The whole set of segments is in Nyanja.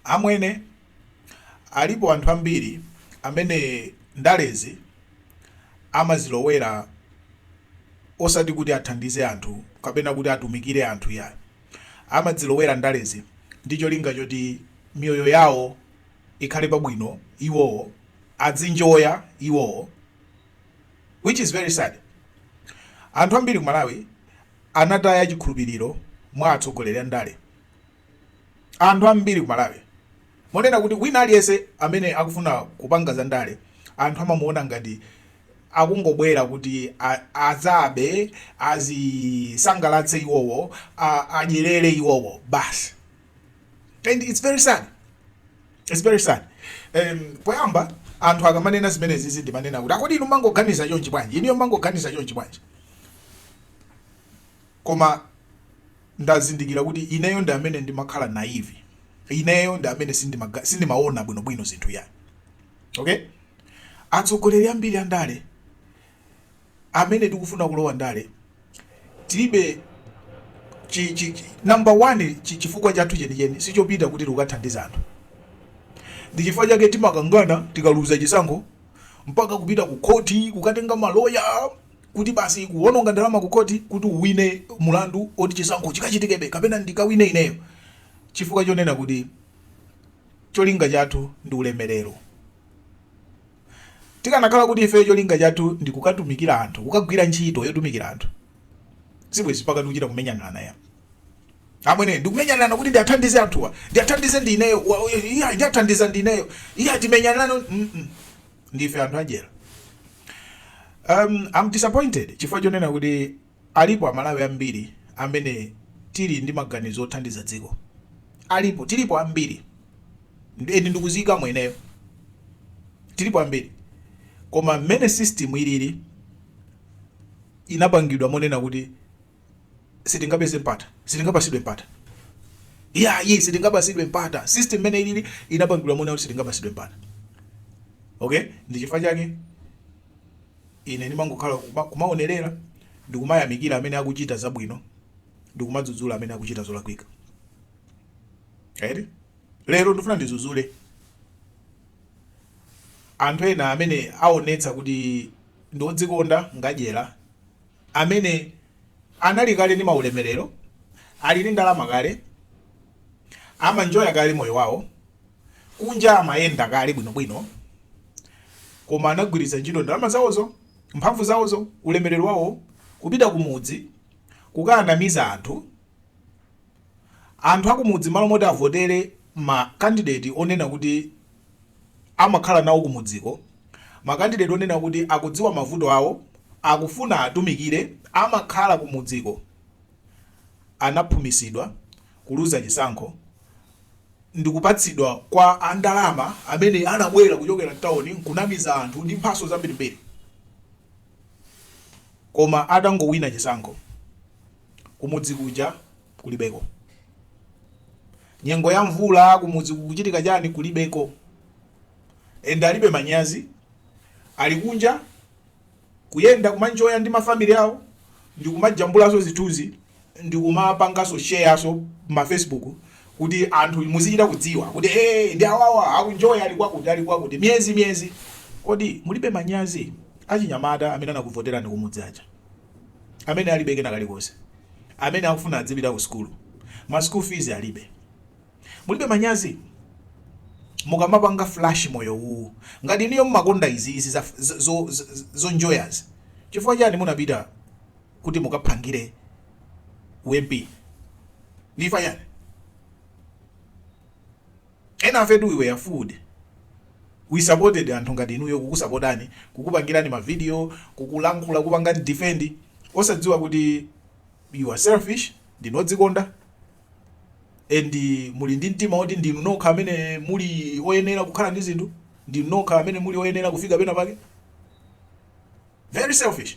Amwene, alipo anthu ambiri amene ndalezi amazilowera osati kuti athandize anthu kapena kuti atumikire anthu iyayi. Amazilowera ndalezi ndi cholinga choti miyoyo yawo ikhale pabwino iwowo, adzinjoya iwowo which is very sad. Anthu ambiri ku Malawi anataya chikhulupiriro mwa atsogoleri andale. Anthu ambiri ku Malawi monena kuti wina aliyense amene akufuna kupanga za ndale anthu amamuona ngati akungobwera kuti adzabe, azisangalatse iwowo, adyerere iwowo basi and it's very sad, it's very sad. Poyamba anthu akamanena zimenezizi ndimanena kuti akodi inu mmangoganiza chonchi bwanji, inuyo mmangoganiza chonchi bwanji? Koma ndazindikira kuti ineyo ndi amene ndimakhala naive. Ineyo ndi amene sindimaga, sindimaona bwinobwino zinthu yani. Okay? Atsogoleri ambiri a ndale amene tikufuna kulowa ndale tilibe chi, chi, chi, number one chi, chifukwa chathu chenicheni sichopita kuti tikathandiza anthu. Ndi chifukwa chake timakangana tikaluza chisankho mpaka kupita ku khoti kukatenga maloya kuti basi kuwononga ndalama ku khoti kuti uwine mlandu woti chisankho chikachitikebe kapena ndikawine ineyo chifukwa chonena kuti cholinga chathu ndi ulemerero. Tikanakhala kuti ifeyo cholinga chathu ndi kukatumikira anthu, kukagwira ntchito yotumikira anthu, sibwezi mpaka tikuchita kumenyanirana yayi amwene ndikumenyanirana kuti ndiathandize anthuwa ndiathandize ndineyo iya ndiathandiza ndineyo iya timenyanirana ndife anthu adyera Um, I'm disappointed chifukwa chonena kuti alipo amalawi ambiri amene tili ndi maganizo othandiza dziko alipo tilipo ambiri and ndikuzika mweneyo tilipo ambiri koma mmene system ilili inapangidwa monena kuti sitingapeze mpata sitingapasidwe mpata yayi sitingapasidwe mpata system mmene ilili inapangidwa monena kuti sitingapasidwe mpata okay ndi chifukwa chake ine ndimangokhala kuma- kumaonerera ndikumayamikira amene akuchita zabwino ndikumadzudzula amene akuchita zolakwika eti lero ndifuna ndidzudzule anthu ena amene aonetsa kuti ndi odzikonda ngadyera amene anali kale ndi maulemelero, ali ndi ndalama kale, amanjoya kale moyo wawo, kunja amayenda kale bwinobwino, koma anagwiritsa ntchito ndalama zawozo, mphamvu zawozo, ulemelero wawo kupita kumudzi kukaanamiza anthu, anthu akumudzi mmalo moti avotere ma kandideti onena kuti. amakhala nawo kumudziko, makandideti onena kuti akudziwa mavuto awo, akufuna atumikire, amakhala kumudziko, anaphumisidwa, kuluza chisankho, ndikupatsidwa kwa a ndalama amene anabwera kuchokera tauni nkunamiza anthu ndi mphaso zambirimbiri. Koma atangowina chisankho, kumudzi kuja kulibeko. Nyengo ya mvula kumudzi kukuchitika chani kulibeko. And alibe manyazi ali kunja kuyenda kumanjoya ndi mafamily awo ndikumajambulaso zithunzi ndikumapangaso shareaso ma Facebook kuti anthu muzichita kudziwa kuti hey, awawa akunjoya ali kwakuti ali kwakuti miyezi miyezi. Kodi mulibe manyazi achinyamata amene anakuvoterani kumudzi aja? amene alibe kena kalikonse, amene akufuna adzipita ku sukulu ma school fees alibe. Mulibe manyazi? Mukamapanga flash moyo uwu ngati inuyo mmakonda izi zonjoyazi chifukwa chani munapita kuti mukaphangire u MP? Ndifa chani? Enafe tu we were fooled, we supported anthu ngati inuyo kukusapotani, kukupangirani ma video, kukulankhula, kukupangani defend osadziwa kuti you are selfish, ndinu odzikonda and muli ndi mtima oti ndinu nokha amene muli oyenera kukhala ndi zinthu, ndinu nokha amene muli oyenera kufika penapake, very selfish.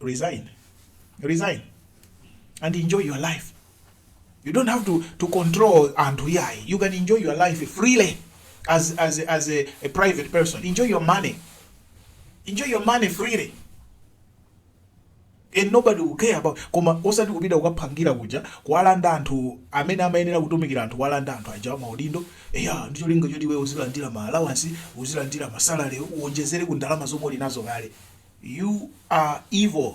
resign resign and enjoy your life you don't have to, to control anthu yayi you can enjoy your life freely as, as, as a, a private person enjoy your money enjoy your money freely and nobody will care about koma osati kupita kukaphangira kuja kuwalanda anthu amene amayenera kutumikira anthu kuwalanda anthu aja amaudindo Eya, ndi cholinga choti iweyo uzilandira ma allowance, uzilandira ma salary, uonjezere ku ndalama zomwe uli nazo kale. You are evil.